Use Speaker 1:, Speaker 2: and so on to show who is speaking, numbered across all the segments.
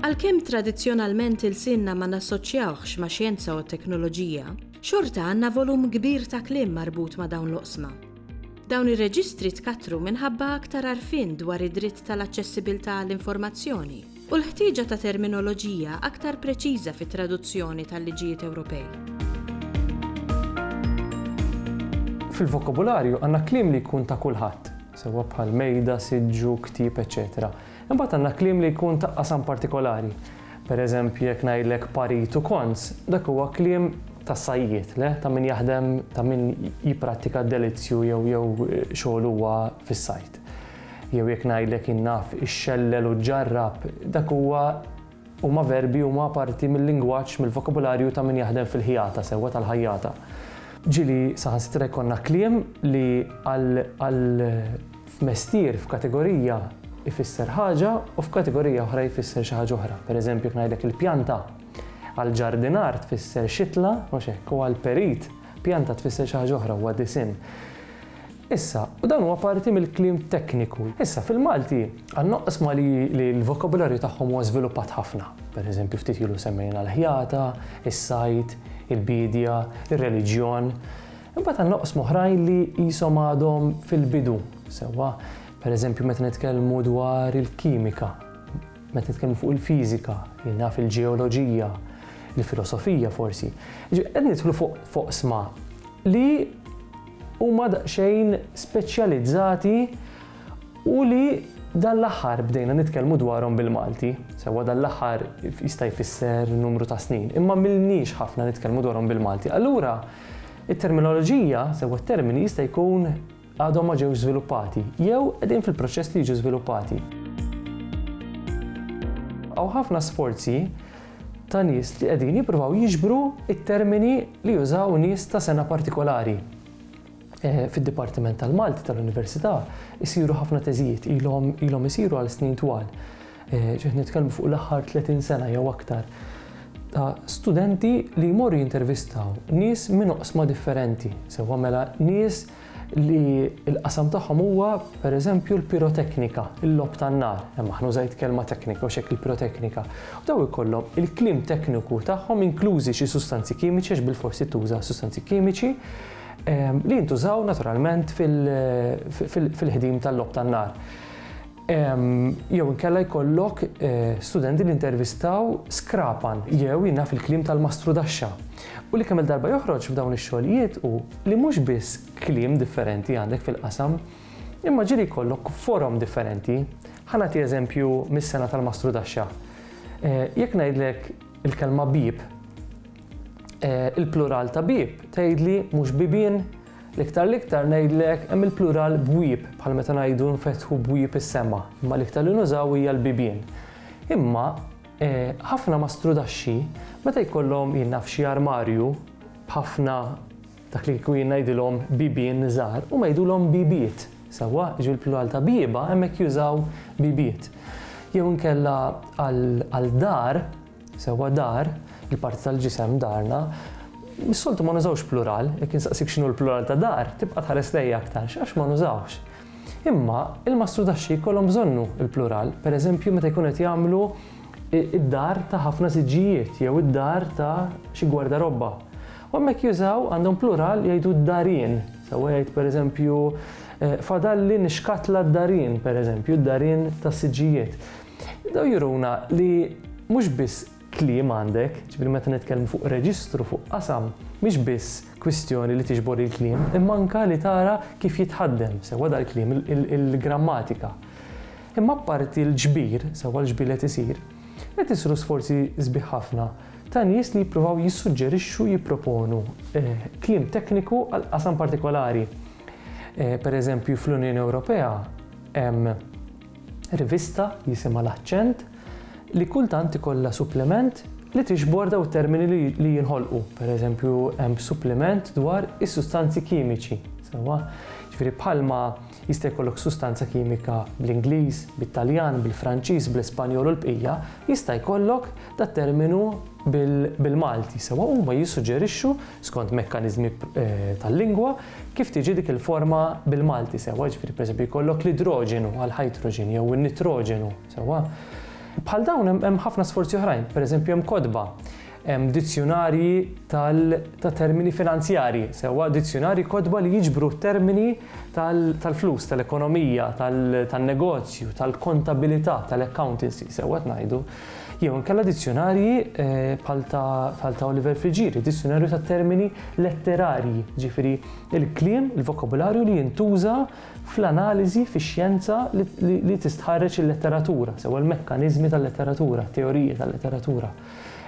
Speaker 1: Għalkemm tradizzjonalment ilsienna ma nassoċjawhx ma' xjenza u teknoloġija, xorta għandna volum kbir ta' kliem marbut ma' dawn l-oqsma. Dawn ir-reġistri tkattru minħabba aktar arfin dwar id-dritt tal-aċċessibilità għall-informazzjoni u l-ħtieġa ta' terminoloġija aktar preċiża fit-traduzzjoni tal-liġijiet Ewropej.
Speaker 2: Fil-vokabularju għandna kliem li jkun ta' kulħadd, sewwa bħal mejda, siġġu, ktieb, eċċetera Imbagħad għandna kliem li jkun ta' qasam partikolari. Per eżempju, jekk ngħidlek parit u kons, dak huwa kliem tas-sajjied, le ta' min jaħdem, ta' min jipprattika d-delizzju jew jew xogħol huwa fis-sajd. Jew jekk ngħidlek jien naf ixxellel u ġġarrab, dak huwa huma verbi huma parti mil-lingwaġġ, mill-vokabularju ta' min jaħdem fil-ħjata sewwa tal-ħajjata. Ġieli saħansitra jkollna kliem li għal għal f'mestier, f'kategorija jfisser ħaġa u f'kategorija oħra jfisser xi ħaġa oħra. Pereżempju jekk ngħidlek il-pjanta għall-ġardinar tfisser xitla, mhux hekk, u għall-perit pjanta tfisser xi ħaġa oħra, huwa disinn. Issa, u dan huwa parti mill-kliem tekniku, issa fil-Malti għandna oqsma li li l-vokabularju tagħhom huwa żviluppat ħafna. Per eżempju ftit ilu semmejna l-ħjata, is-sajd, il-biedja, ir-reliġjon. Imbagħad għandna oqsma oħrajn li qishom għadhom fil-bidu, sewwa. Per eżempju meta nitkellmu dwar il-kimika, meta nitkellmu fuq il-fiżika, jien naf il-ġeoloġija, il-filosofija forsi. Ġifieri qed nidħlu fuq oqsma li Huma daqsxejn speċjalizzati u li dan l-aħħar bdejna nitkellmu dwarhom bil-Malti. Sewwa dan l-aħħar jista' jfisser numru ta' snin, imma m'ilniex ħafna nitkellmu dwarhom bil-Malti. Allura, it-terminoloġija, sewwa t-termini jista' jkun għadhom ma ġewx żviluppati jew qegħdin fil-proċess li jiġu żviluppati. Hawn ħafna sforzi ta' nies li qegħdin jippruvaw jiġbru t-termini li jużaw nies ta' sena partikolari. Fid-Dipartiment tal-Malti tal-Università jsiru ħafna teżijiet, ilhom ilhom isiru għal snin twal. Ġiet nitkellmu fuq l-aħħar 30 sena jew aktar ta' studenti li jmorru jintervistaw nies minn oqsma differenti, sewwa mela nies li l-qasam tagħhom huwa pereżempju l-piroteknika, il-logħob tan-nar, hemm aħna użajt kelma teknika u x'hekk il-piroteknika. U daw ikollhom il-kliem tekniku tagħhom inklużi xi sustanzi kimiċi għax bilforsi tuża sustanzi kimiċi ehm, li jintużaw naturalment fil-ħdim tal-logħob tan-nar. Jew inkella jkollok studenti li intervistaw skrapan jew jina fil-kliem tal-mastrudaxxa. U li kemm il-darba joħroġ f'dawn ix-xogħlijiet u li mhux biss kliem differenti għandek fil-qasam, imma ġieli jkollok forom differenti. Ħa nagħti eżempju mis-sena tal-mastrudaxxa. Jekk ngħidlek il-kelma bieb, il-plural ta' bieb tgħidli mhux bibien, L-iktar l-iktar ngħidlek hemm il-plural bwieb, bħal meta ngħidu nfetħu bwieb is-sema, imma l-iktar li nużaw hija l-bibien. Imma ħafna mastrudaxxi meta jkollhom jien naf xi armarju b'ħafna dak li kieku jien ngħidilhom bibien żgħar, huma jgħidulhom bibiet, sewwa? Jiġifieri l-plural ta' bieba hemmhekk jużaw bibiet. Jew inkella għal dar, Sewwa dar, il-parti tal-ġisem, darna, mis-soltu ma nużawx plural, jekk insaqsik x'inhu l-plural ta' dar, tibqa' tħares lejja aktarx għax ma nużawhx. Imma il-mastrudaxxi jkollhom bżonnu l-plural, pereżempju meta jkunu qed jagħmlu id-dar ta' ħafna siġġijiet jew id-dar ta' xi gwardarobba. U hemmhekk jużaw għandhom plural jgħidu d-darien. Sewwa jgħid pereżempju eh, fadalli nixkatla d-darien, pereżempju, d-darien tas-siġġijiet. Daw juruna li mhux biss kliem għandek, ġifieri meta nitkellmu fuq reġistru, fuq qasam, mhix biss kwistjoni li tiġbor il-kliem, imma anke li tara kif jitħaddem sewwa dal-kliem, il-grammatika. Imma apparti l-ġbir, sewwa l-ġbir li qed isir, qed isiru sforzi sbieħ ħafna ta' nies li jippruvaw jissuġġerixxu, jipproponu eh, kliem tekniku għal qasam partikolari. Eh, per eżempju, fl-Unjoni Ewropea hemm Rivista jisimha L-Aċċent li kultant ikollha supplement li tiġbor dawn it-termini li jinħolqu. Pereżempju, hemm suppliment dwar is-sustanzi kimiċi, sewwa? Ġifieri bħalma jista' jkollok sustanza kimika bl-Ingliż, bit-Taljan, bil-Franċiż, bl-Ispanjol u l-bqija, jista' jkollok dat-terminu bil-Malti, sewwa? Huma jissuġġerixxu, skont mekkaniżmi tal-lingwa, Kif tiġi dik il-forma bil-Malti, sewwa, jiġifieri pereżempju jkollok l-idroġenu għall-ħajtroġen jew in-nitroġenu, sewwa. Bħal dawn hemm hemm ħafna sforzi oħrajn, pereżempju hemm kotba, hemm dizzjunarji tal ta' termini finanzjarji, sewwa, dizzjunarji kotba li jiġbru t-termini tal tal-flus, tal-ekonomija, tal tan-negozju, tal-kontabilità, tal-accountancy, sewwa qed ngħidu. Jew inkella dizzjunarji bħal ta' Oliver Friggieri, dizzjunarju ta' termini letterarji, ġifieri il-kliem, il-vokabularju li jintuża fl-analiżi fix-xjenza li tistħarreġ il-letteratura, sewa l-mekkaniżmi tal-letteratura, teoriji tal-letteratura.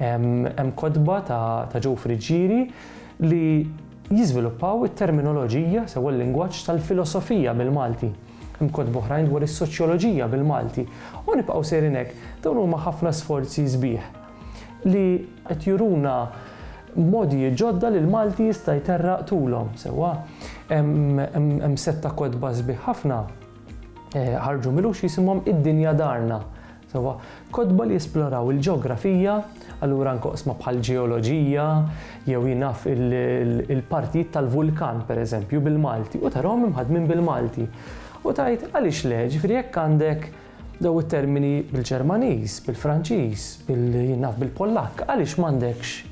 Speaker 2: Hemm kotba ta' Joe Friggieri li Jiżviluppaw it-terminoloġija sew il-lingwaġġ tal-filosofija bil-Malti. Hemm kotba oħrajn dwar is-soċjoloġija bil-Malti. U nibqgħu sejrin hekk. Dawn huma ħafna sforzi sbieħ li qed juruna mogħdijiet ġodda li l-Malti jista' jterraq tulhom sewwa. Hemm sett ta' kotba sbieħ ħafna ħarġu m'ilux jisimhom Id-Dinja Darna Sewwa, kotba li jesploraw il-ġeografija, allura anke oqsma bħal ġeoloġija, jew jien naf il-partijiet tal-vulkan pereżempju bil-Malti, u tarahom imħaddmin bil-Malti. U tgħid għaliex le, ġifieri jekk għandek dawn it-termini bil-Ġermaniż, bil-Franċiż, bil-jien naf bil-Pollakk, għaliex m'għandekx